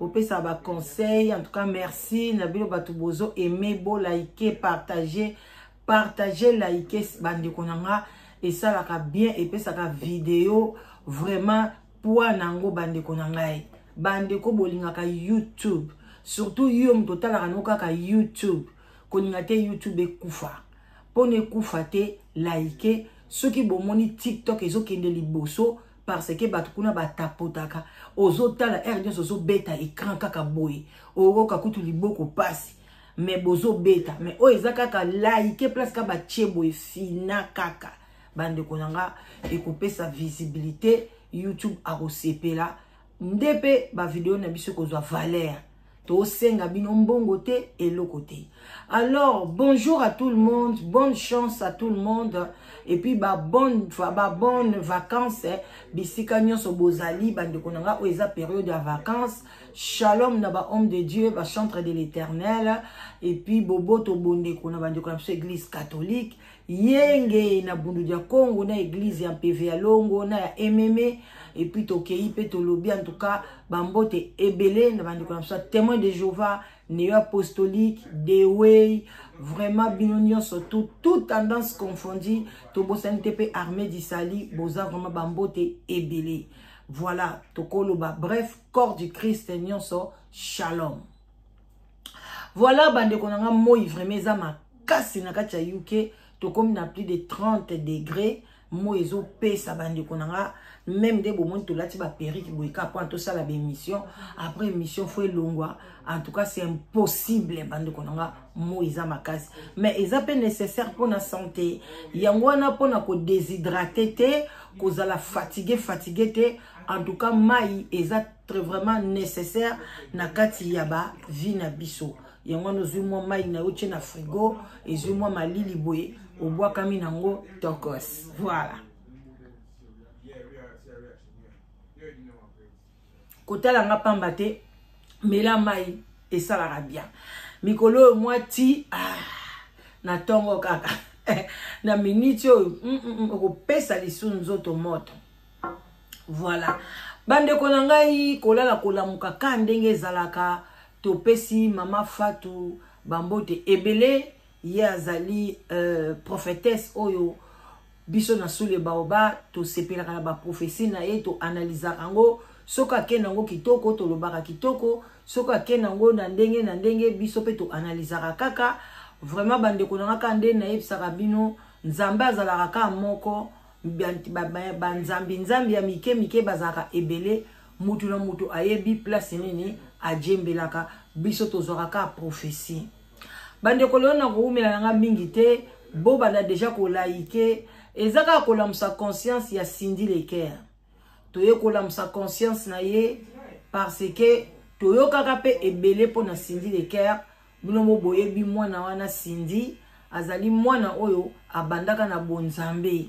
bopesa ba conseil en tout cas merci na bino bato bozo aime bo like partage partage like bandeko na nga esalaka bien epesaka video vraiment poids na yango bandeko na ngai bandeko bolingaka youtube surtout yo moto otalaka no kaka youtube kolinga te youtube ekufa mpo na ekufa te like soki bomoni tiktok ezokende liboso parce que bato kuna batapotaka ozotala heure nyonso ozobeta écran kaka boye okoka kutu liboko mpasi me bozobeta me oyo eza kaka laike place kaka batie boye fina kaka bandeko na nga ekopesa visibilité youtube akosepela nde mpe bavideo na biso ekozwa valeur tosenga bino mbongo te eloko te alors bonjour à tout le monde bonne chance à tout le monde et puis ba bonne ba bonne vacances eh. bisika nyonso bozali bandeko na nga oyo eza période ya vacances shalom na ba homme de dieu ba chantre de l'éternel et puis boboto bondeko na bandeko na biso église catholique yenge na bundu dia congo na eglise ya mpeve ya longo na ya ememe epuis tokei mpe tolobi en tout cas bambote ebele na bandeko na biso ya témoin de jehova neo apostolique deway vraiment bino nyonso tout tout tendance confondi tobosani te mpe armée disali boza vraiment bambote ebele voilà tokoloba bref corps du christ nyonso shalom voilà bandeko na nga moi vraiment eza makasi na kati ya uk tokomi na plus de 30 degré moi ezopesa bandeko na nga meme nde bomoni tolati baperike boye ka mpona tosala baémission après émission fo elongwa en tout cas c'est impossible bandeko na nga moi eza makasi mais eza mpe nécessaire mpona santé yango wana mpona kodéshydrate te kozala fatigue fatigue te en tout cas mai eza très vraiment nécessaire na kati ya ba vie na biso yango wana ozwi mwa mai na yo tye na frigo ezwi mwa malili boye obwakami nango tokos voilà kotala nga pamba te mela mai esalaka bien mikolo oyo mwa ti ah, na ntongo kaka na miniti oyo mm, mm, mm, okopesa lisu nzoto moto voilà bandeko na ngai kolala kolamuka ka ndenge ezalaka topesi mama fatu bambote ebele ye azali euh, prophétesse oyo biso na sule baoba tosepelaka na baprofesi na ye toanalizaka yango soki ake na yango kitoko tolobaka kitoko soki ake na yango na ndenge na ndenge biso mpe toanalizaka kaka vraiment bandeko na nga kaka nde nayebisaka bino nzambe azalaka kaka moko banzambi nzambi ya mike mike bazalaka ebele mutu na mutu ayebi place nini ajembelaka biso tozwaka kaka prophesie bandeko lelo na kowumela na nga mingi te bobanda deja kolaike eza kaka kolamusa conscience ya cindy leker toye kolamusa conscience na ye parce que toyokaka mpe ebele mpo na cindy leker bino mo boyebi mwana wana sindi azali mwana oyo abandaka na bonzambe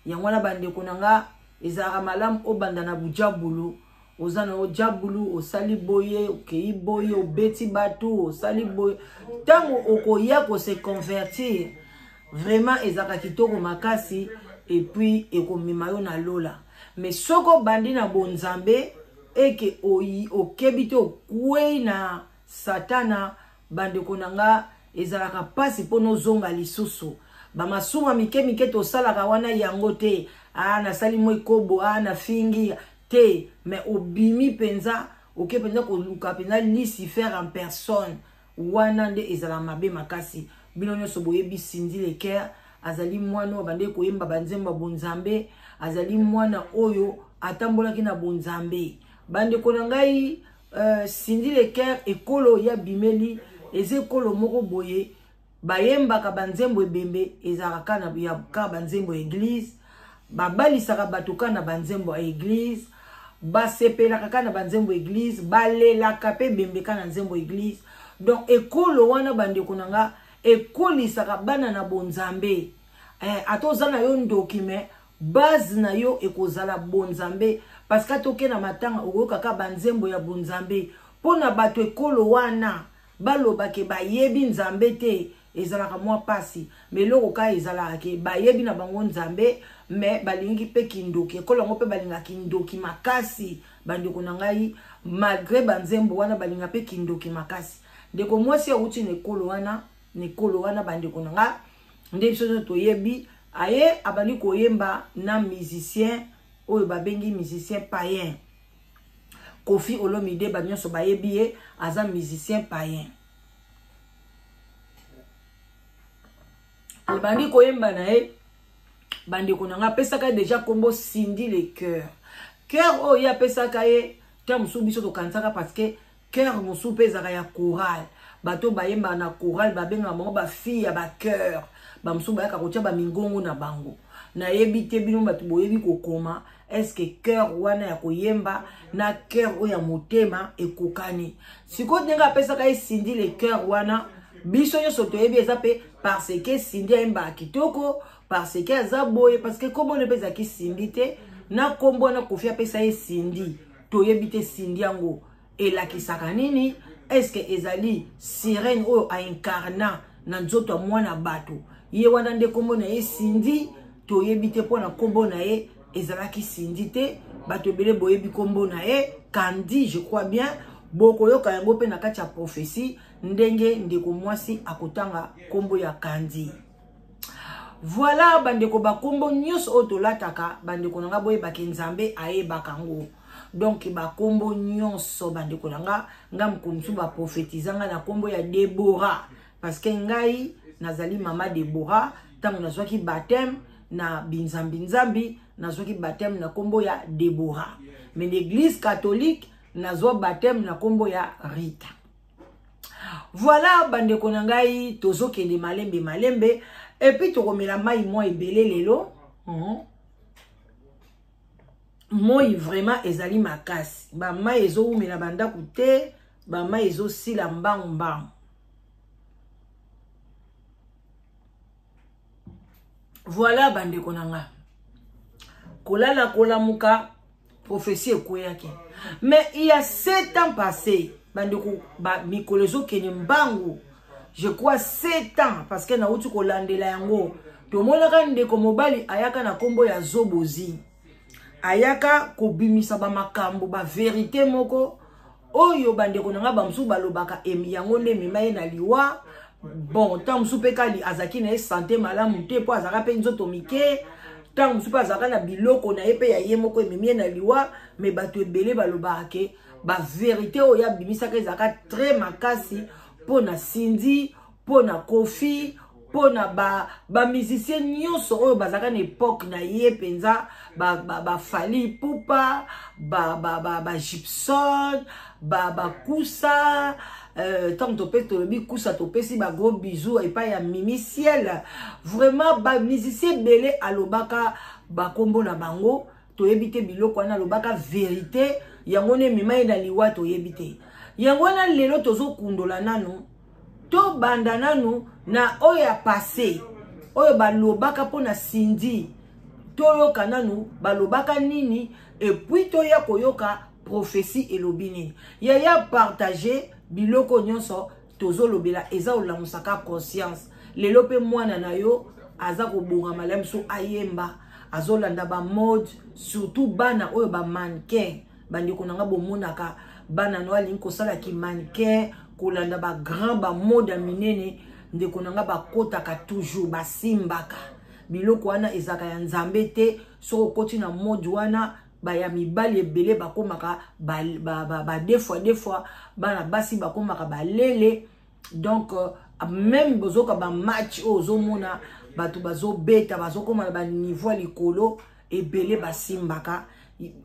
yango wana bandeko na nga ezalaka malamu obanda na bujabulu oza na yo jabulu osali boye okei boye obeti bato osali boye ntango okoya kose convertir vraiment ezalaka kitoko makasi epuis ekomema yo na lola me soki obandi na bonzambe eke okebi te okwei na satana bandeko na nga ezalaka mpasi mpo nozonga lisusu bamasumu mike mike tosalaka wana yango te a ah, nasali mwa ekobo a ah, nafingi te me obimi mpenza oke mpenza koluka mpenza lucifer en personne wana nde ezala mabe makasi bino nyonso boyebi sindi leker azali mwana oyo abandaki koyemba banzembo ya bonzambe azali mwana oyo atambolaki na bonzambe bandeko na ngai euh, cindy leker ekolo ya bimeli eza ekolo moko boye bayembaka banzembo ebembe ezalaka kaka ya kaka banzembo ya eglize babalisaka bato kaka na banzembo ya eglize basepelaka kaka na banzembo ya eglize balelaka mpe ebembe kaka na nzembo ya eglize donc ekolo wana bandeko na nga ekolisaka bana na bonzambe eh, ata oza na yo ndoki me base na yo ekozala bonzambe parce que toke na matanga okoyokaka banzembo ya bonzambe mpo na bato ekolo wana baloba ke bayebi nzambe te ezalaka mwa mpasi ma eloko kaka ezalaka ke bayebi na bango nzambe me balingi mpe kindoki ekolo yango mpe balinga kindoki makasi bandeko na ngai malgre banzembo wana balinga mpe kindoki makasi ndeko mwasi awuti na ekolo wana mikolo wana bandeko na nga nde biso nyonso toyebi aye abandi koyemba na musicien oyo babengi musicien payen kofi olomide bato nyonso bayebi ye aza musicien payen abandi koyemba na ye bandeko na ngai apesaka ye deja nkombo sindi le cœur cœur oyo ye apesaka ye ntango mosusu biso tokanisaka parce que Coeur mosusu pe ezaka ya chorale. Bato bayemba na chorale babenga bango ba fille ya ba coeur. Ba mosusu bayaka kotia ba mingongo na bango. Nayebi te bino bato boyebi kokoma est-ce que coeur wana ya koyemba na coeur oyo ya motema ekokani. Siko ndenge apesaka ye Cindy le coeur wana biso nyonso toyebi eza pe parce que Cindy ayembaka kitoko parce que aza boye parce que kombo ne pe ezalaki Cindy te na kombo wana kofi apesa ye Cindy toyebi te Cindy yango elakisaka nini est-ce que ezali sirène oyo aincarna na nzoto ya mwana bato ye wana nde nkombo na ye sindi toyebi te mpo na nkombo na ye ezalaki sindi te bato ebele boyebi nkombo na ye kandi je crois bien bokoyoka yango mpe na kati ya profesi ndenge ndeko mwasi akotanga nkombo ya kandi voilà bandeko bakombo nyonso oyo tolataka bandeko na nga boyebake nzambe ayebaka yango donk bakombo nyonso bandeko na nga nga mokolo mosusu baprofetiza nga na nkombo ya debora parce que ngai nazali mama debora ntango nazwaki bateme na binzambinzambi nazwaki bateme na nkombo ya debora mais na église catholique nazwa bateme na nkombo ya rita voilà bandeko na ngai tozokende malembe malembe epuis tokomela mai mwa ebele lelo mhm. moi vraiment ezali makasi bamai ezowumela bandako te bamai ezosila mbangu mbangu voilà bandeko na ngai kolala kolamuka prophetie ekweyaki mais il y a sept ans passé bandeko ba, mikolo ezokende mbangu je crois sept ans parce que nauti kolandela yango tomonaka ndeko mobali ayaka na nkombo ya zobozi ayaka kobimisa bamakambo baverite moko oyo bandeko na ngai bamosusu balobaka emi yango nde emema ye na liwa bon ntango mosusu mpe kali azalaki na ye sante malamu te mpo azalaka mpe nzoto mike ntango mosusu mpe azalaka na biloko na ye mpe ya ye moko ememi ye na liwa me bato ebele balobaka ke baverité oyo abimisaka ezalaka très makasi mpo na sindi mpo na kofi mpo na bamusicien ba nyonso oyo bazalaka na epoke na ye mpenza bafali ba, ba pupa bagipson ba, ba, ba bakusa euh, ntango euh, topesi tolobi kusa topesi bagro bisou epai ya mimi ciel vraiment bamusicien ebele alobaka bakombo na bango toyebi te biloko wana alobaka verite yango nde emema ye na liwa toyebi te yango wana lelo tozokundola nanu tobanda nanu na oyo ya passe oyo balobaka mpo na sindi toyoka nanu balobaka nini epuis toya koyoka prophesie elobi nini yaya partage biloko nyonso tozolobela eza olamusa ka conscience lelo mpe mwana na yo aza kobonga malamu so ayemba azolanda bamode surtout bana oyo bamannequin bandeko na nga bomonaka bana no alingi kosala kimannequin kolanda bagrand bamode ya minene ndeko na nga bakotaka toujours basimbaka biloko wana ezalaka ya nzambe te soki okoti na mode wana baya mibali ebele bakomaka badefua ba, ba, ba, defua, defua, bana basi bakomaka balele donc euh, meme bozoka bamatch oyo ozomona bato bazobeta bazokoma na baniveau ya likolo ebele basimbaka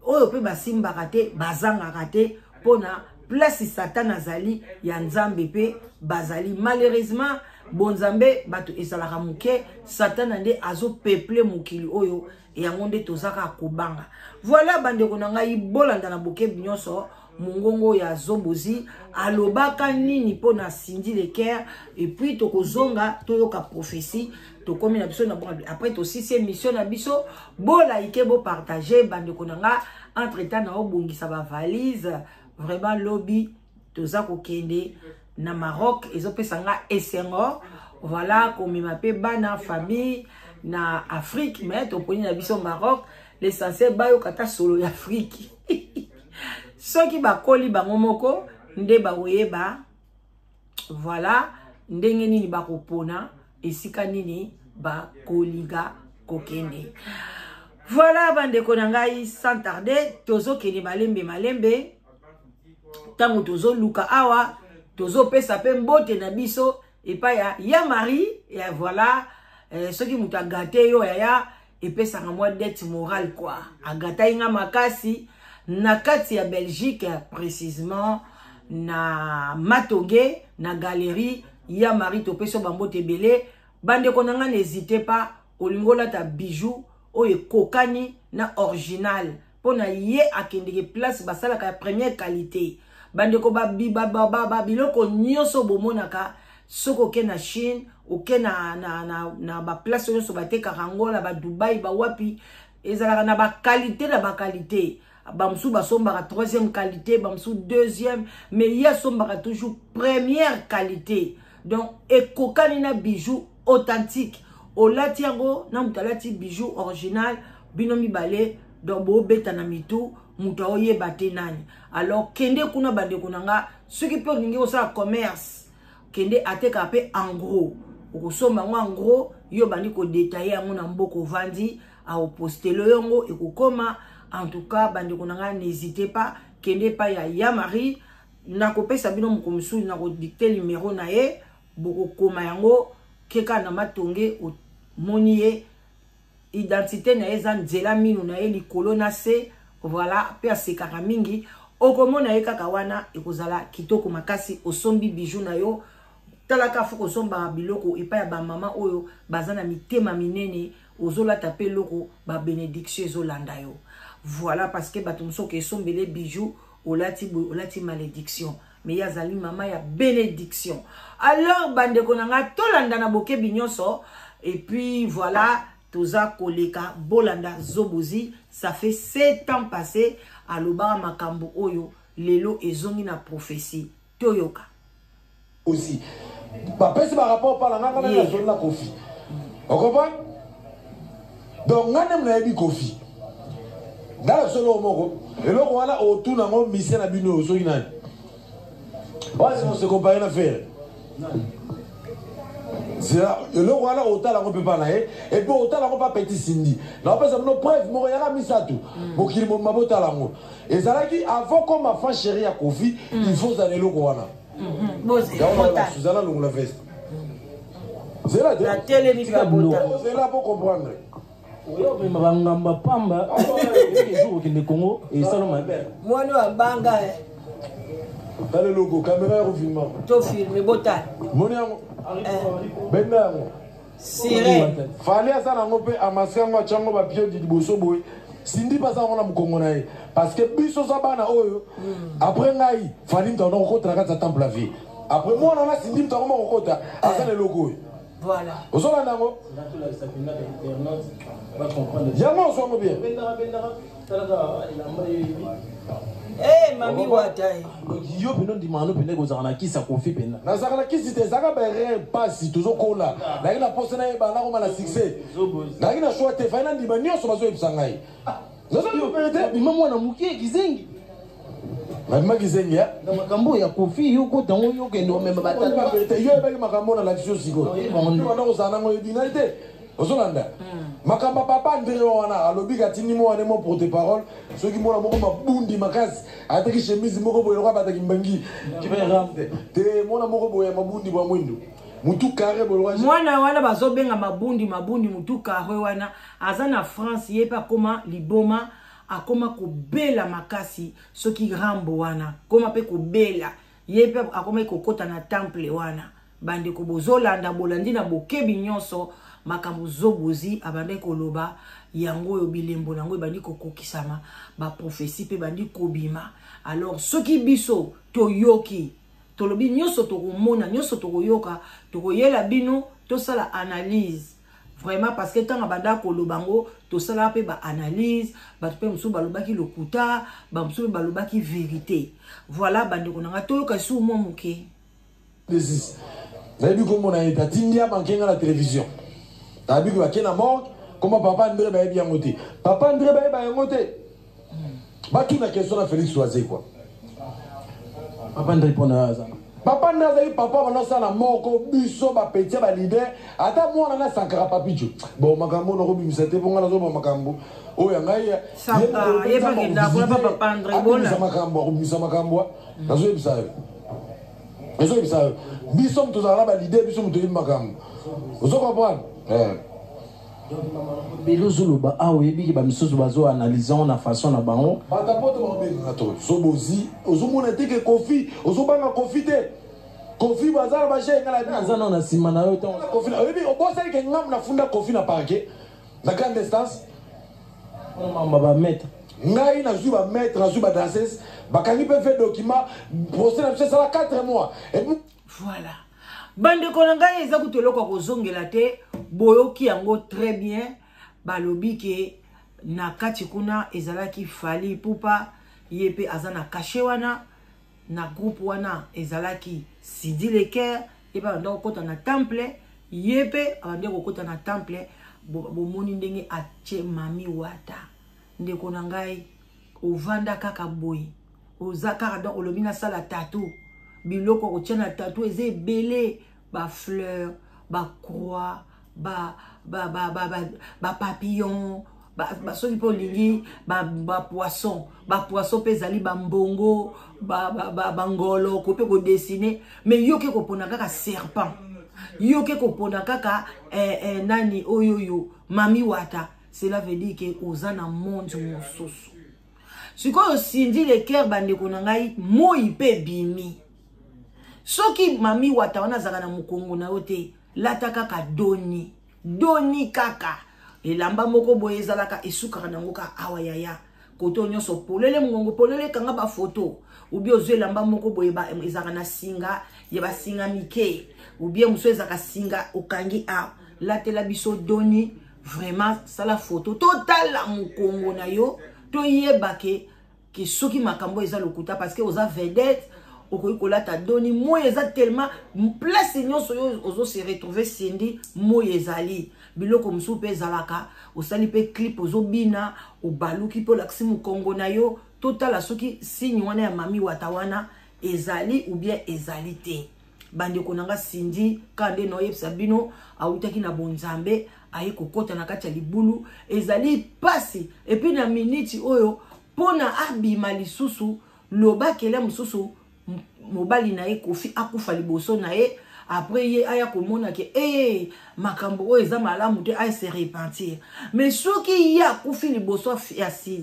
oyo mpe basimbaka te bazangaka te mpona place satana azali ya nzambe mpe bazali malheureusement bonzambe bato ezalaka moke satana nde azopeple mokili oyo yango nde toza kaka kobanga voilà bandeko na ngai bolanda na bokebi nyonso mongongo ya zobozi alobaka nini mpo na cindy lecaire epuis tokozonga toyoka prophesie tokomi na biso na bonga après tosisi émission na biso bolaike bopartage bandeko na nga entre temps na obongisa bavalise vraiment lobi toza kokende na maroc ezopesa nga esengo voilà komema mpe bana famille na afrique me toponi na biso maroc l'essentiel bayoka ata solo ya afrique soki bakoli bango moko nde bakoyeba voilà ndenge nini bakopona esika nini bakolinga kokende voilà bandeko na ngai sans tarde tozokende malembe malembe ntango tozoluka awa tozopesa mpe mbote na biso epai ya ya marie ya voilà eh, soki moto agate yo yaya epesaka mwa dette morale kua agatai nga makasi na kati ya belgique précisement na matoge na galerie ya marie topesi yo bambote ebele bandeko na ngai na ezite pa olingi olata bijou oyo ekokani na original mpo na ye akendeke place basalaka ya première qualité bandeko babiloko nyonso bomonaka soki oke na chine oke na, na, na, na baplace nyonso batekaka yango na badubai bawapi ezalaka na bakalite na bakalite bamosusu basombaka troisième qualité bamosusu deuxième mais ye asombaka toujours première qualité donc ekokani na bijou authentique olati yango na moto alati bijou original bino mibale donc bobeta na mitu moto aoyeba te nani alors kende kuna bandeko na nga soki mpe olingi kosala commerce kende ateka mpe engros okosomba yango engros yo obandi kodetaille yango na mboka ovandi aopostelo yango ekokoma en tout cas bandeko na nga n'hésite pas kende epai ya ya marie nakopesa bino moko mosusu nakodikte numero na ye bokokoma yango keka na matonge omoni ye identité na ye eza nzela mino na ye likolo na se voilà mpe asekaka mingi okomona ye kaka wana ekozala kitoko makasi osombi bijou na yo talaka fo kosombaka biloko epai ya bamama oyo baza na mitema minene ozolata mpe eloko babenediction ezolanda yo voilà parce que bato mosusu okesombele bijou olati boye olati malédiction mais ye azali mama ya benediction alors bandeko na ngai tolanda na bokebi nyonso et puis voilà toza koleka bolanda zobozi ça fait sept ans passé alobaka makambo oyo lelo ezongi na prophetie toyoka ozi bapesi barapport pala nganga nani azoli na kofi okomprendre donc nga nde nayebi kofi nga na solo moko eloko wana otuna ngo mise na bino oyo soki nani wasi mose compare na fere zela eloko wana otala ngo mpe mpa na ye epuis otala ngo mpa petit sindi naopesa bino preuve moko yaka misato mm. mokili mobima botala ngo ezalaki avant koma fan chéri ya kofi mm. il faut ozala eloko wana mm-hmm. yango suzana longola veste zela te na telemi bika bota zela po comprendre oyo mema ba ngamba pamba ezo kokende Congo et sala mabe mwana wa banga eh. tala eloko kamera ya kofilma to filme botala moni yango eh. benda yango sire fali aza nango mpe amasi yango atya yango bapiodi liboso boye sindi baza yango na mokongo na ye parce que biso oza bana oyo mm. après ngai fali mtaona kokotela kati ya temple ya vie Après moi, on a signé le tarot au côté. Ah, c'est le logo. Voilà. Vous avez un mot Yama, on s'en bien. Eh, mamie Watai. Yo, pino di mano, pino ko zara na kisa kofi pena. Na zara na kisi te zara ba rien pasi tozo kola. Na kina poste na ye ba na ko mala succès. Na kina choix te fa na ndima nyoso bazo yebisa ngai. Naza yo pere te. Bima mwana mukie kizengi. Nabima kizengi ya. Na makambo ya kofi yo ko tango yo kendo meme batata. Ba pere te yo ebaki makambo na lakisio siko. Yo banda ko zana ngo ebina te. ozolanda hmm. makambo ya papa ndenge wana alobi katindi mo wane mo porte parole soki mwana moko mabundi makasi ataki chemise moko boye lokola bataki mbangi te mwana moko boye ya mabundi bwa mwindu mutu kare boye mwana wana bazobenga mabundi mabundi mutu kare wana aza na france ye mpe akoma liboma akoma kobela makasi soki rambo wana akoma mpe kobela ye mpe akomaki kokɔta na temple wana bandeko bozolanda bolandi na bokebi nyonso makambo zobozi abandaki koloba yango oyo bilembo na yango ebandi kokokisama baprofesi mpe ebandi kobima alors soki biso toyoki tolobi nyonso tokomona nyonso tokoyoka tokoyela bino tosala analyse vraiment parce que ntango abanda koloba yango tosalaka mpe baanalyse bato mpe mosusu balobaki lokuta bamosusu mpe balobaki verité voilà bandeko na ngai toyoka lisusu mwa moke nayebi komona ye tatindi ya manke ngai na télévision nayebi koyake na morgue koma papa andre bayebi yango te papa andre bayeba yango te batuna question na felix wazekwa papa ndri mpo na aza papa ndri azali papa banasala moko biso bapeti ya balider ata mwana na sankara papico bon makambo oyo nakobimisa te mpo ngai nazoba makambo oyo ya ngai yebisa makambo akobimisa makambo nazoyebisa yo ezoyebisa yo biso moto tozala na balider biso moto toyebi makambo ozo comprendre eh. Donc ba maman ebele ozoloba awa oyebi ke bamisusu bazo analyse yango na façon na bango banda poto bakobengaka to zobozi ozomona te ke kofi ozobanga kofi te kofi baza na baje enga na aza nao na nsima na yo ntango kofi na- oyebi obosani ke ngamu nafunda kofi na parke na grande instance mamba bameta ngai nazwi bamaître nazwi badanses bakangi mpe ve document procès na biso esala 4 mois ebu voilà bandeko na ngai eza kutu eloko ya kozongela te boyoki yango très bien balobi ke na kati kuna ezalaki fali pupa ye mpe aza na kashe wana na groupe wana ezalaki sidi leker ye mpe abanda kokɔta na temple ye mpe abandi kokɔta na temple bomoni ndenge atie mami wata ndeko na ngai ovanda kaka boye oza kaka donc olobi nasala tatu biloko akotia na tatu eza ebele bafleur bacroix bapapillon soki mpe olingi bapoisson bapoisson mpe ezali bambongo bangolo ko mpe kodessine mais yo oke kopona kaka serpent yo oke kopona kaka eh, eh, nani oyoyo mami wata cela veut dire ke oza na monde mosusu sikoyo sindi leker bandeko na ngai moi mpe ebimi soki mami wata wana azalaka na mokongo na yo te lata kaka doni doni kaka elamba moko boye ezalaka esukaka nango ka awa yaya kote oyo nyonso polele mongongo polele kanga bafoto ubie ozwi elamba moko boye ezalaka na singa ya basinga mike ubie mosusu ezalaka singa okangi awa latela biso doni vraiment sala foto totala mokongo na yo toyeba ke ke soki makambo eza lokuta parce que oza vedette okoki kolata doni moi eza tellement place nyonso yo ozo se retrouve sindi moi ezali biloko mosusu mpe ezalaka osali mpe clip ozobina obaluki mpe olakisi mokongo na yo totala soki signe wana ya mami wata wana ezali ou bien ezali te bandeko na nga sindi ka nde naoyebisa bino awutaki na bonzambe aye kokɔta na kati ya libulu ezali mpasi epuis na miniti oyo mpo na abima lisusu lobakele mosusu mobali na ye kofi akufa liboso na ye après ye aya komona ke ee makambo oyo eza malamu te aye se repentir mais soki ye akufi liboso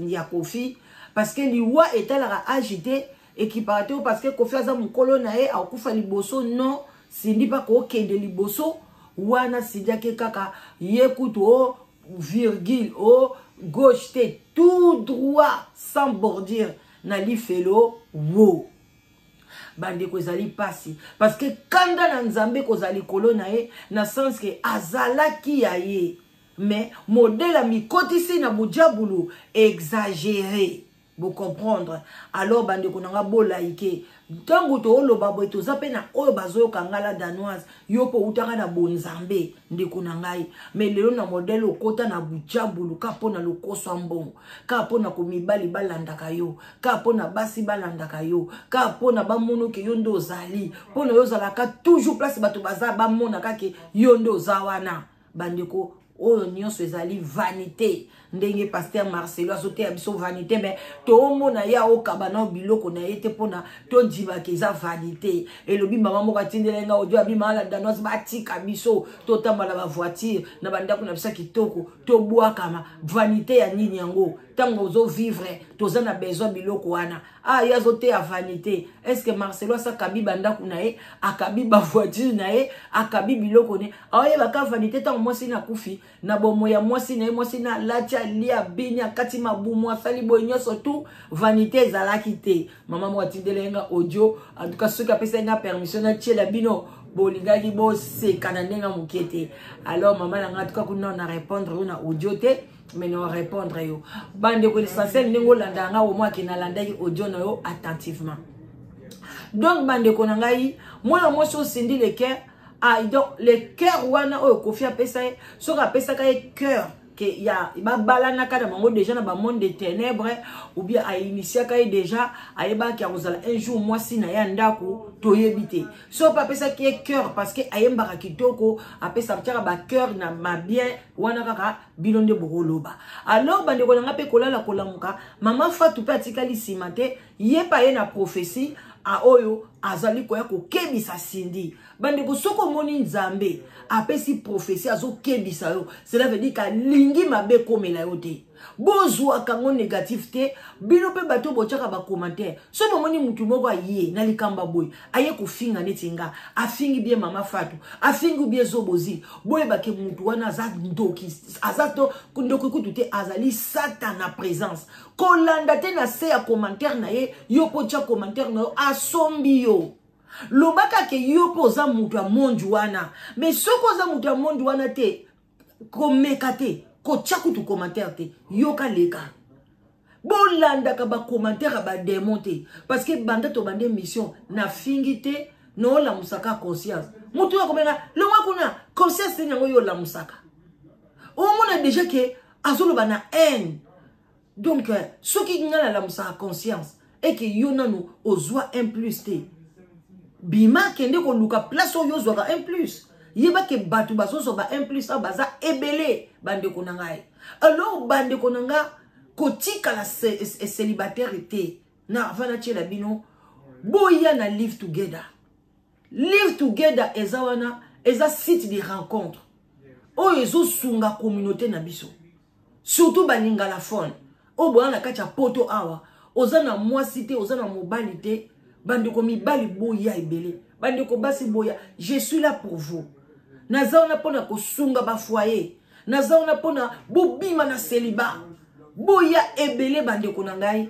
ya kofi parce que liwa etalaka age te ekipaka te parce que kofi aza mokolo na ye akokufa liboso non sindi mpe akokende liboso wana sindi ake kaka ye kutu o oh, virgule o oh, gauche te tout droit sans bordure na lifelo wo bandeko ezali mpasi parce que kanda na nzambe kozala likolo na ye na sens ke azalaki ya ye mais modele amikotisi na bujabulu exagere bocomprendre alors bandeko na nga bolaike ntango tooloba boye toza mpe na oyo bazoyoka ngai la danoise yo mpo outaka na bonzambe ndeko na ngai mai lelo na modele okota na bujabulu ka mpo na lokoso ya mbongo ka mpo na komibali balandaka yo ka mpo na basi balandaka yo ka mpo na bamonoke yo nde ozali mpo na yo ozalaka toujours place bato baza bamonaka ke yo nde oza wana bandeko oyo nyonso ezali vanité ndenge paster marcelo azoteya biso vanité me toomona ye aokaba nao biloko na ye te mpona tondimaka eza vanité elobi mama moko atindelai nga odio abima ala danoise batika biso totambola bavoitire na bandako na biso ya kitoko tobwakama vanité ya nini yango ntango ozovivre toza na besoin biloko wana ah ye azoteya vanité est ce que marcelo asi akabi bandako na ye akabi bavoiture na ye akabi biloko ne aoyeba ka vanité ntango mwasi na akufi na bomo ya mwasi na ye mwasi na alati alia bini akati mabumu asali boye nyonso tu vanité ezalaki te mama moko atindela ye nga audio en tout cas soki apesaki nga permission natiela bino bolingaki boseka na ndenge moke te alors mama na nga tuka kuna na répondre yo na audio te mais na repondre yo bandeko l'essentiel ndenge olanda yanga omo ake nalandaki audio na yo attentivement donc bandeko na ngai mwana mwasi osindi le cœur ah, donc le cœur wana oyo kofi apesa ye soki apesaka ye cœur ke ya babalanaka na bango deja na bamonde de ténèbre ou bien ainitiaka ye deja ayebaki akozala un jour mwasi na ye ya ndako toyebi te so mpe apesaki ye cœur parce que ayembaka kitoko apesa tiaka bacœur na mabien wana kaka bino nde bokoloba alors bandeko na ngai mpe kolala kolamuka mama fatu mpe atikali nsima te ye mpe aye na prophesie oyo azali koya kokebisa sindi bandeko soki omoni nzambe apesi profesi azokebisa yo cela veut dire ke alingi mabe ekomela yo te bozwaka yango négatif te bino mpe bato botyaka bacommentaire soki bomoni motu moko aye na likambo boye aye kofinga neti nga afingi bie mama fatu afingi bie zobozi boyebake mutu wana aza ndoki aza to ndoki kutu te azali satana présence kolanda te na se ya commentaire na ye yo mpo tya commentaire na yo asombi yo lobaka ke yo mpo oza mutu ya mondi wana mais soki oza mutu ya mondi wana te komeka te kotya kutu commentaire te yoka leka bolandaka bacommentaire ya bademon te parce que banda tobanda émission nafingi te noolamusaka conscience motu oyo akomeka longwa kuna conscience teni yango yo olamusaka omona deja ke azoloba na haine donc euh, soki ngai nalamusaka conscience eke yo nano ozwa un plus te bima kende koluka place oyo ozwaka un plus yeba ke bato bazozwa ba un plus awa baza ebele bandeko na ngai alors bandeko na ngai kotikala célibataire te na ava natyela bino boya na live together live together eza wana eza site de rencontre oyo ezosunga communauté na biso surtout ba lingalaphone oyo boya na kati ya poto awa oza na mwasi te oza na mobali te bandeko mibali boya ebele bandeko basi boya je suis là pour vous naza wana mpo na kosunga bafoye naza wana mpo na bobima na seliba boya ebele bandeko na ngai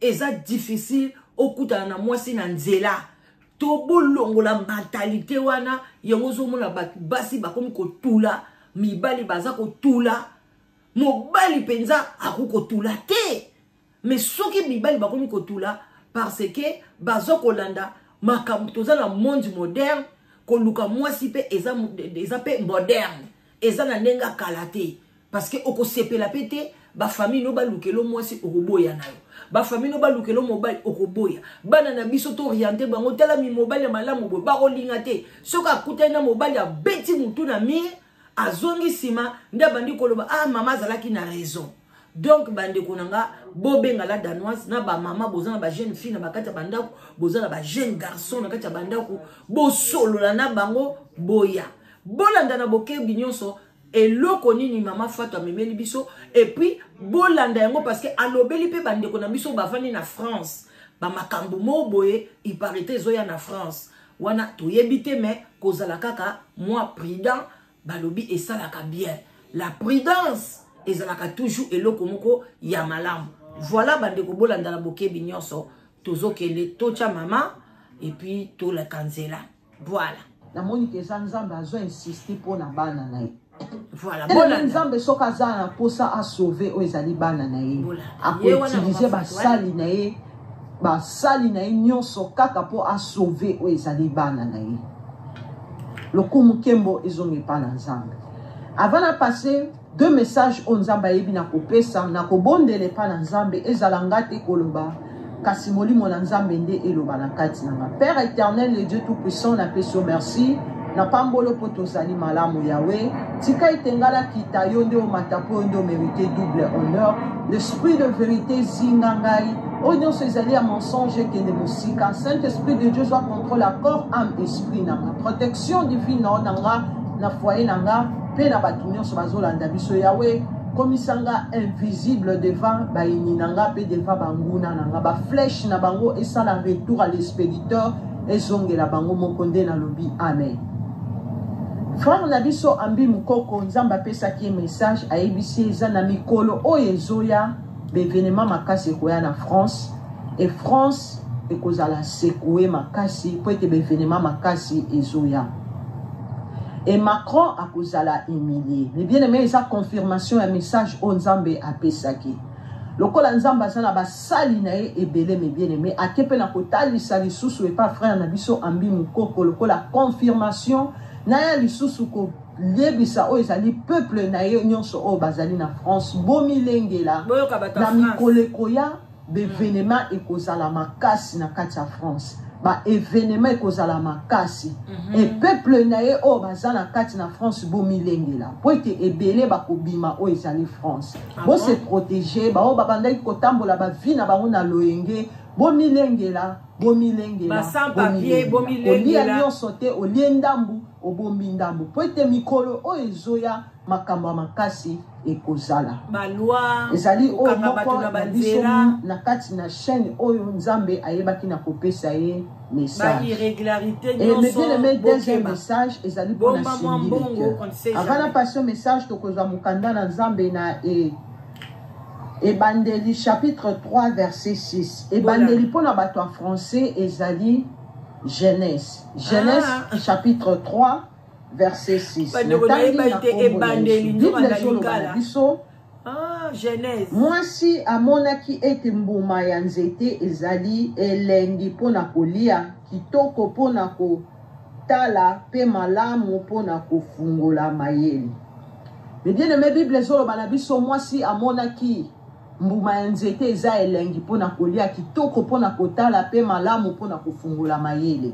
eza difficile okutana na mwasi na nzela to bolongola mentalite wana yango ozomona bato basi bakomi kotula mibali baza kotula mobali mpenza akoki kotula te me soki mibali bakomi kotula parce ke baza kolanda makambo toza na monde moderne koluka mwasi mpe eza mpe moderne eza na ndenge ya kala te parceke okosepela mpe te bafamille no balukelo mwasi okoboya na yo bafamille no balukelo mobali okoboya bana na biso tooriente bango tala mimobali ya malamu boye bakolinga te soki akutani na mobali abeti motu na mire azongi nsima nde abandi koloba ah mama azalaki na raison donc bandeko na nga bobenga la danoise na bamama boza na bajeune fille na bakati ya bandako boza na bajeune garçon na kati ya bandako bosolola na bango boya bolanda na bokebi nyonso eloko nini mama fatu amemeli biso epuis bolanda yango parce que alobeli mpe bandeko na biso bavandi na france bamakambo moo boye iparite ezoya na france wana toyebi te me kozala kaka mwa prudent balobi esalaka bien la prudence ezalaka toujours eloko moko ya malamu voilà bandeko bolanda na bokebi nyonso tozokende totya mama epuis toleka nzela Voilà. namoni ke eza nzambe azo insiste mpo na bana na ye Voilà, elenge bolanda. nzambe soki aza na mposa asauve oyo ezali bana na ye Bolanda. Ye wana akoutilize makambo basali na ye basali na ye nyonso kaka mpo asauve oyo ezali bana na ye lokumu nkembo ezonga epai na nzambe avant na passe Deux messages oyo Nzambe ayebi na kopesa, na kobondela epai na Nzambe, ezala nga te koloba, kasi molimo na Nzambe nde eloba na kati na nga. Père éternel, le Dieu tout puissant, na pesi yo merci. na pambolo mpo tozali malamu yawe tika ete ngai nakita yo nde omata mpo yo nde omerite double honneur l'esprit de vérité zinga ngai oyo nyonso ezali ya mensonge ekende mosika saint esprit de dieu zwa contrôle ya corps ame esprit na nga protection divine na nga na foyer na nga mpe na bato nyonso bazolanda biso yawe komisa nga invisible devant bayini na nga mpe devant banguna na nga baflèche na bango esala retour à l'expéditeur ezongela bango moko nde nalobi amen frère na biso ambi mokoko nzambe apesaki ye message ayebisi ye eza na mikolo oyo ezoya ba evenements makasi ekoya na France et France ekozala secoue makasi mpo ete ba evenements makasi ezoya et Macron akozala humilie mais bien aimé eza confirmation ya message oyo Nzambe apesaki lokola Nzambe aza na basali na ye ebele mais bien aimé ake mpe na kotalisa lisusu epa frère na biso ambi mokoko lokola confirmation na ya lisusu ko yebisa oyo ezali peuple na ye nyonso oyo bazali na france bomilengela na mikolo ekoya baevenema mm. ekozala makasi na kati ya france baevenema ekozala makasi mm -hmm. e peuple na ye oyo baza na kati na france bomilengela mpo ete ebele bakobima oyo ezali france ah bose bon? protege baoyo babandaki kotambola bavi na bango na loyenge bomilengela bomilengelaolia nyonso te olie ndambu obombi ndambu mpo ete mikolo oyo ezoya makambo ya makasi ekozala ezali oyo moko na biso na kati na chaîne oyo nzambe ayebaki na kopesa ye messagemebieleme deuxième message ezali mpona sindilike avana passion message tokozwa mokanda na nzambe na e ebandeli chapitre 3 verset 6 ebandeli mpo na bato ya français ezali genèse genèse ah. chapitre 3 verset 6 bible ezoloba na biso Ah, Genèse. Mwasi amonaki ete mbuma ya nzete ezali elengi mpo na kolia, kitoko mpo na ko Tala pe malamu pona kofungola mayele. Mes bien aime Bible ezoloba na biso mwasi amonaki mbuma ya nzete eza elengi mpo na kolia kitoko mpo na kotala mpe malamu mpo na kofungola mayele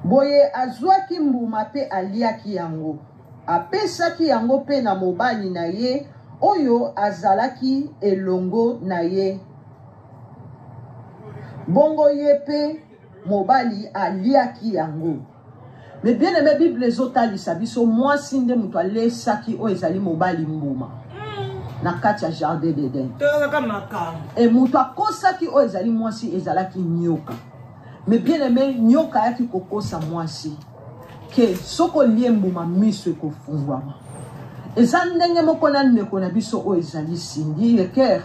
boye azwaki mbuma mpe aliaki yango apesaki yango mpe na mobali na ye oyo azalaki elongo na ye bongo ye mpe Mobali aliaki yango. Mais bien aimé Bible ezotalisa biso mwasi nde moto alesaki oyo ezali mobali mbuma na kati ya jardin d'Eden. Et moto akosaki oyo ezali mwasi ezalaki nyoka. Mais bien aimé nyoka ayaki kokosa mwasi ke soki olie mbuma miso ekofungwama. Eza ndenge moko na ndeko na biso oyo ezali Cindy Leker.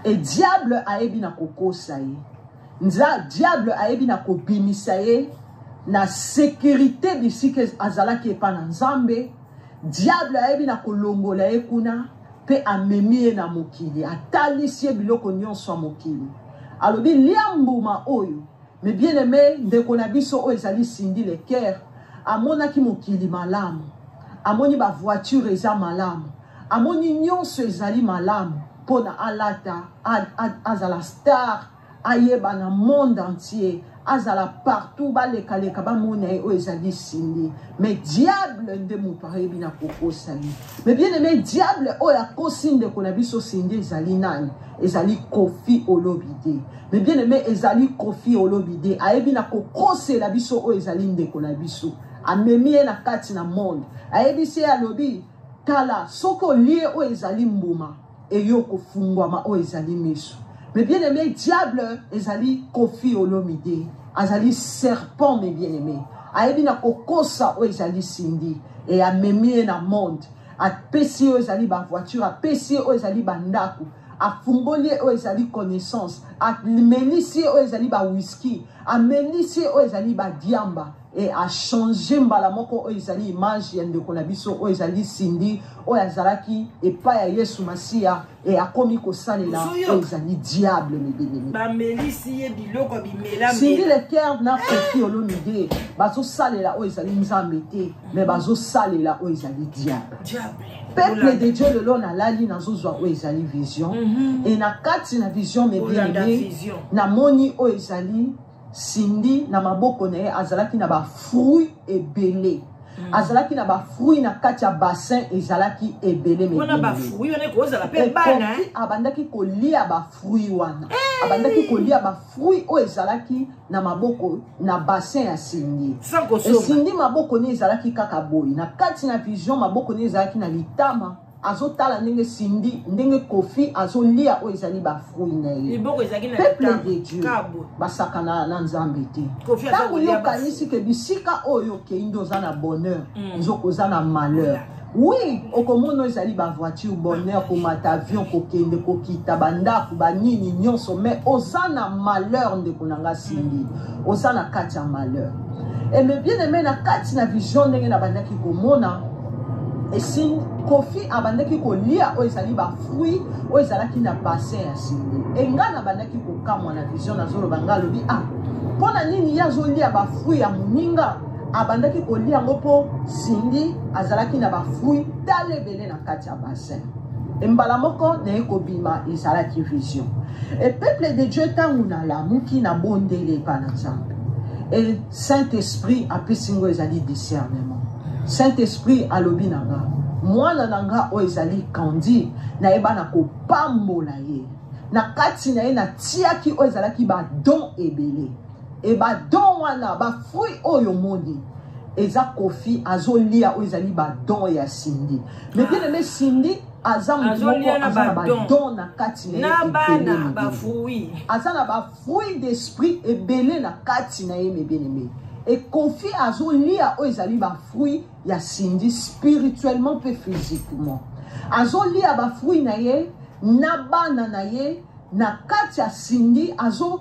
Et diable ayebi na kokosa ye. Nza diable ayebi na kobimisa ye na securite bisika azalaki epa na nzambe diable ayebi na kolongola ye kuna mpe amemi ye na mokili atalisi ye biloko nyonso ya mokili alobi lia mbuma oyo me bien aime ndeko na biso oyo ezali sindi le coeur amonaki mokili malamu amoni bavoiture eza malamu amoni nyonso ezali malamu mpo na alata azala star ayeba na monde entier azala partout baleka leka bamona ye oyo ezali sindi mais diable nde moto ayebi na kokosa ye mais bien aime diable oyo akosi ndeko na biso sindi ezali nani ezali kofi olobide mais bien aime ezali kofi olobide ayebi na kokosela biso oyo ezali ndeko na biso amemi ye na kati na monde ayebisi ye alobi tala soki olie oyo ezali mbuma et yo kofungwama oyo ezali miso mais bien aimé diable ezali kofi olomide azali serpent mais bien aimé ayebi na kokosa oyo ezali sindi e amemi ye na monde apesi ye oyo ezali bavoiture apesi ye oyo ezali bandako afungoli ye oyo ezali connaissance amelisi ye oyo ezali bawiski amelisi ye oyo ezali badiamba et a changer mbala moko oyo ezali image ya ndeko na biso oyo ezali Cindy oyo azalaki epai ya Yesu Masiya et akomi kosalela oyo ezali diable mibelemi bamelisi ye biloko bimela Cindy le cœur na Kofi Olomide bazosalela oyo ezali Nzambe te mais bazosalela oyo ezali diable diable peuple de Dieu lelo nalali nazozwa oyo ezali vision mhm. et na kati na vision mebelemi namoni oyo ezali Cindy na maboko na ye azalaki na ba fruits ebele. Mm. azalaki na bafruit na kati ya bassin ezalaki ebele abandaki kolia bafruit wana eh! abandaki kolia bafruit oyo ezalaki na maboko na bassin ya sindi esindi maboko ne ezalaki kaka boye na kati na vision maboko ne ezalaki na litama azotala ndenge sindi ndenge kofi azolia oyo ezali bafrui na ye peuple de dieu basakana na nzambe te ntango yo okanisi ke bisika oyo okei nde oza na bonheur mm. nzoka oza na malheur oui okomona ezali bavoiture bonheur komata avion kokende kokita bandako banini nyonso mais oza na malheur ndeko na nga sindi oza na kati ya malheur Et mes bien-aimés, na kati na vision ndenge na bandaki komona esimbi kofi abandaki kolia oyo ezali bafruit oyo ezalaki na bassin ya simbi enga na bandaki kokamwa na vision nazoloba nga alobi a ah, mpo na nini ye azolia bafruit ya moninga abandaki kolia yango mpo simbi azalaki na bafruit tala ebele na kati ya bassin E mbala moko naye kobima ezalaki vision e peuple de dieu ntango nalamuki na bondeli epa na nzambe e saint esprit apesi ngo ezali discernement saint esprit alobi na nga mwana na nga oyo ezali kandi nayeba na kopambola ye na kati na ye natiaki oyo ezalaki badon ebele Et ba don wana ba fruit oyo moni eza kofi azolia oyo ezali ba don ya Cindy. Mais bien aimé Cindy aza mutu moko aza na ba don na kati na ye bana ba fruit. Aza na ba fruit d'esprit ebele na kati na ye mais bien aimé. Et kofi azolia oyo ezali ba fruit ya Cindy spirituellement pe physiquement. Azolia ba fruit na ye na bana na ye na kati ya Cindy azo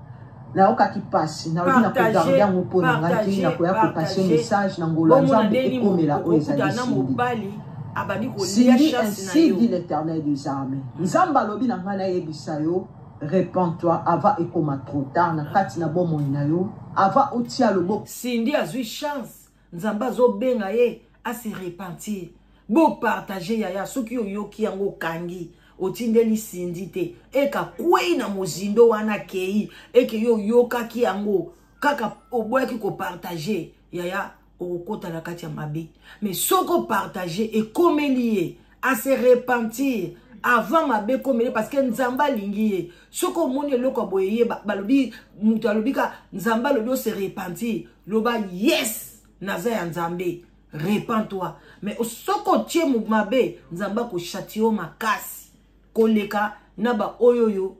nayokaki mpasi nalobi na kogarde yango mpo na ngai te nakoya kopase message na ngolo ya nzambe ekomela oyo ezali sindi ainsi dit l'éternel des armées nzambe alobi na ngai nayebisa yo repends-toi avant ekoma trop tard na kati na bomoi na yo avant otia loboko sindi azwi chance nzambe azobenga ye ase repentir bopartage yaya soki oyoki yango okangi otindeli sindi te eka kwei na mozindo wana akei eke yo oyokaki yango kaka oboyaki kopartage yaya okokota na kati ya mabe me soki opartage ekomeli ye à se repentir avant mabe ekomele parce que nzambe alingi ye soki omoni eloko ya boye ye balobi moto alobi ka nzambe alobi ose repentir loba yes naza ya nzambe repent toi mais soki otie mabe nzambe akoshati yo makasi koleka na baoyo oyo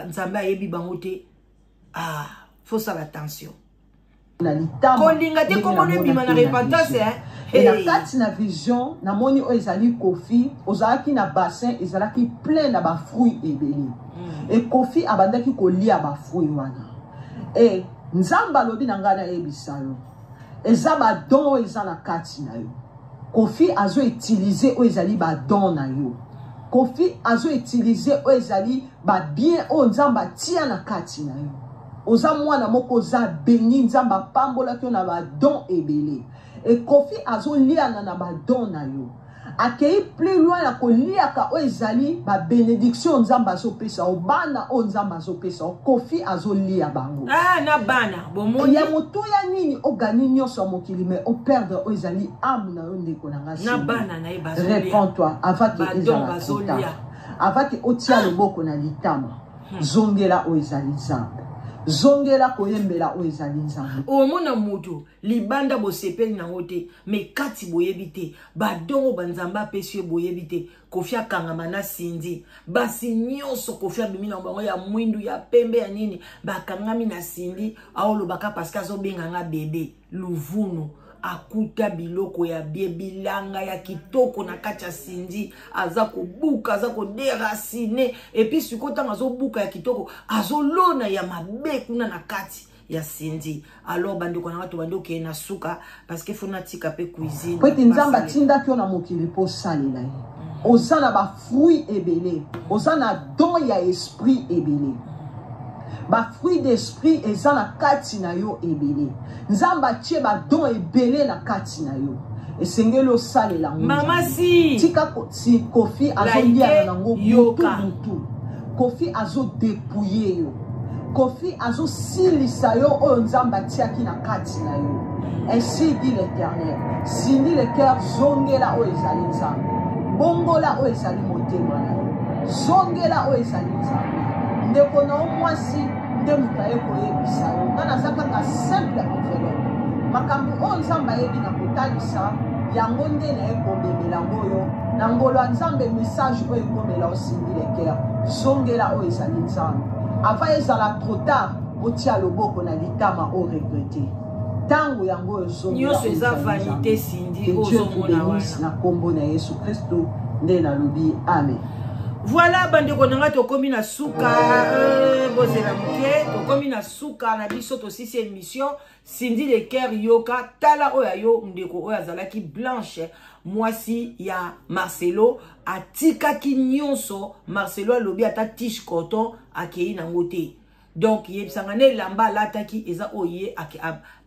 nzambe ayebi bango te ah faut sala attention na litama kolinga te komona ebima na repentance eh na kati na vision namoni oyo ezali kofi ozalaki na bassin ezalaki plein na bafruit ebele hmm. e kofi abandaki kolia bafruit wana e nzambe alobi na ngai nayebisa yo eza ba don oyo eza na kati na yo kofi azo utilize oyo ezali ba don na yo kofi azo utilize oyo ezali ba bien oyo nzambe atia na kati na yo oza mwana moko oza beni nzambe apambolaki yo na ba don ebele e kofi azoliana na ba don na yo akeyi plus loin ya koliaka oyo ezali ba benediction nzambe azopesa o bana oyo nzambe azopesa o kofi azolia bango ah, na bana bomoni ya motuya nini ogani nyonso ya mokili me operdre oyo ezali ame na yo ndeko na ngai na bana na ye bazolia réponds toi avant que ezala bazolia avant que otia ah. loboko na litama hmm. zongela oyo ezali nzambe zongela koyembela oyo ezali nzambe omona moto libanda bosepeli nango te me kati boyebi te badongo banzambe apesi ye boyebi te kofi akangama na sindi basi nyonso kofi abimi na bango ya mwindu ya pembe ya nini bakangami na sindi aolobaka parceke azobenga nga bebe luvunu akuta biloko ya bie bilanga ya kitoko na kati ya sindi aza kobuka aza koderasine epuis sikoyo ntango azobuka ya kitoko azolona ya mabe kuna na kati ya Cindy alors bandeko na nga tobandi okeye na suka parce que faut natika mpe cuisine po ete nzambe atindaki yo na mokili mpo osalela ye mm. oza na bafruit ebele oza na don ya esprit ebele bafruit d'esprit eza na kati na yo ebele nzambe atie badon ebele na kati na yo esengeli osalela yango mama si tika si kofi azoliana nango mutu mutu kofi azode puye yo kofi azosilisa yo oyo nzambe atiaki na kati na yo ainsi dit l'éternel sindi le cœur zongela oyo ezali nzambe bongola oyo ezali motema na yo zongela oyo ezali nzambe ndeko na yo mwasi nde moto aye koyebisa yo nga naza kaka simple envelope makambo oyo nzambe ayebi na kotalisa yango nde naye komemela yango yo na ngolo ya nzambe message oyo ekomela osi Leker, zongela oyo ezali nzambe ava ezala trop tard otia loboko na litama o regrete ntango yango oyo zongelaoyo eza vanité sindi ozomona wana na nkombo na yesu kristo nde nalobi amen voilà bandeko na ngai tokomi na suka euh, bozela moke tokomi na suka na biso tosisi émission Cindy le cœur yoka tala oyo ya yo ndeko oyo azalaki blanche mwasi ya Marcelo atikaki nyonso Marcelo alobi ata tiche coton akei nango te donc yebisanga na elamba alataki eza oyo ye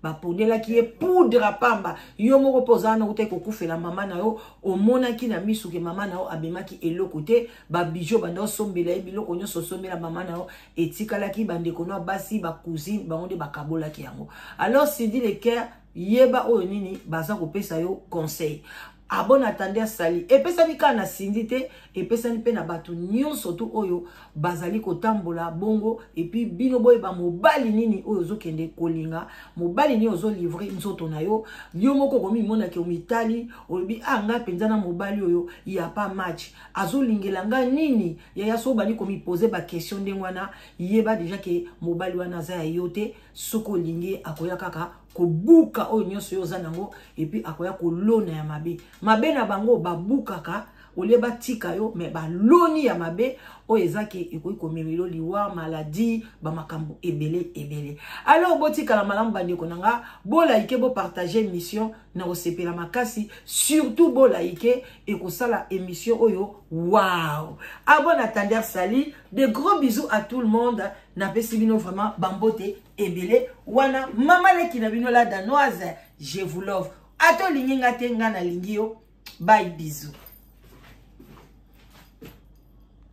baponelaki ye poudre pamba yo moko mpe ozala na utaki kokufela mama na yo omonaki na miso ke mama na yo abemaki eloko te babiju banda osombela ye biloko nyonso osombela mama na yo etikalaki bandeko na basi bacousine bango nde bakabolaki yango alors sidi leker yeba oyo nini baza kopesa yo conseil abon ah, atande asali epesami kaka na sindi te epesami mpe na bato nyonso tu oyo bazali kotambola bongo epuis bino boyeba mobali nini oyo ozokende kolinga mobali nini ozolivre nzoto na yo yo moko okomimonaki omitali olobi a ah, ngai mpenza na mobali oyo ya pa match azolingela ngai nini yaya soki obandi komipose bakestion ndenge wana yeba deja ke mobali wana aza ya yo te soki olingi ye akoya kaka kobuka oyo nyonso yo oza nango epuis akoya kolona ya mabe mabe na bango babukaka olie batika yo me baloni ya mabe oyo eza ke ekoki komemelo liwa maladi bamakambo ebele ebele alors botikala malamu bandeko na nga bolaike bopartage mission na kosepela makasi surtout bolaike ekosala émission oyo wow ah bon attendeur sali de gros bisous à tout le monde napesi bino vraiment bambote ebele wana mama leki na bino la danoise je vous love ata olingi nga te nga nalingi yo bye bisous